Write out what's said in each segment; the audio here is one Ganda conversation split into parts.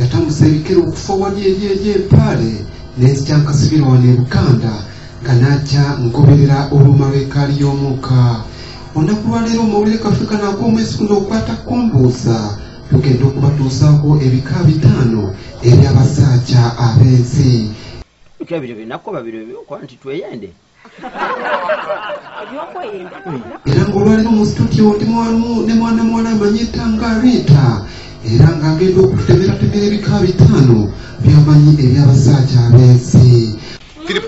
Yatandise ebikere okufa wali eri eri empaale n'enzija nkasibira wano e Buganda nga n'ajja nkoberera oluuma lw'ekaali y'omwuka olunaku lwaleero omawulire kaffe kano ag'omwezi guno okwata kumbuuza tugenda okubatuusaako ebika bitaano eby'abasaaja ab'ensi ebyo binakuba biro ebyokuba nti tweyende era ng'olwaliro mu situdiyo ndi mwalimu ne mwana muwala amanyi etanga riita era ng'agenda okutemeratemera ebika bitaano byamanyi eby'abasaaja abensi philip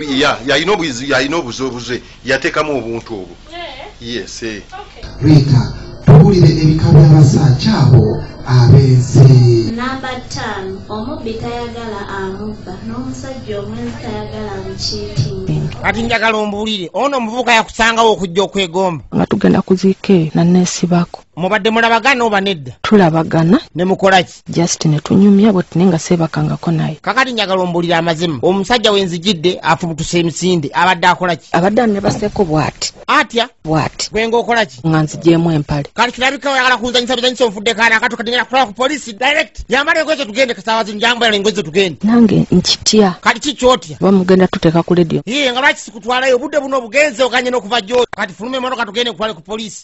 yalina obuzi yalina obuzi obuze yateekamu obuntu obwo yese Rita, tuwulire ebika by'abasajja abo abenzi. Namba ttaano, omubbi tayagala amubba n'omusajja omwenzi tayagala mukiitinge. Kati njagala ombuulire, ono omuvubuka yakusangawo okujja okwegomba. Nga tugenda kuziika eyo nanneesibako. Mubadde mulabagana oba nedda? Tulabagana. Ne mukola ki? just netunyumya bwet naye nga seebakangako naye kakati njagala ombulira amazima omusajja wenzijidde afubutuse emisinde abadde akolaki abadde anebaseeko bwati atya bwati gwenga okolaki nga nzijeemu empale kati kirabika oyagala kunzanyisa bizanyisa onfudde kaana akatu kati ngenda kutwala ku polisi direct yambala engoye zetugende kasaawa zino njambala engoye zetugende nange nkitya kati ki kyotya oba mugenda tuteeka ku ledio ye nga lwaki sikutwalayo obudde buno obugenze oganye n'okuva gyo kati fuluma emotoka tugende kutwale ku polisi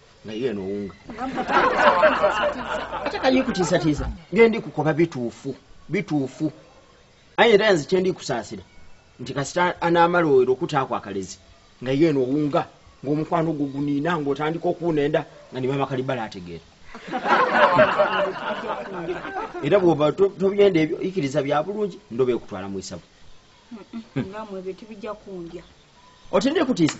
naye eno owunga ate kayikutiisatiisa ngendi kukoba bituufu bituufu aye era nze kyendi kusaasira nti kasita anaamala oero okutaako akalezi nga ye eno owunga ng'omukwano gwo guniina ng'otandika okuwunenda nga ne maama kalibala ategeera era bwoba tobyenda ebyo ikiriza bya bulungi ndoba ekutwala mu isabu otendekutiisa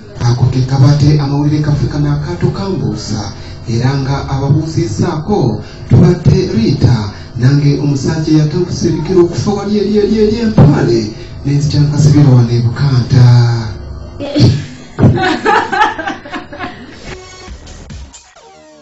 Ako ke kabadde amawulire gaffe kano akaato kambuusa era nga ababuuzizzaako tubadde Riita nange omusajja yatambusa ebigere okufa wali eri eri eri empaale nenzikyankasibira wano ebukanta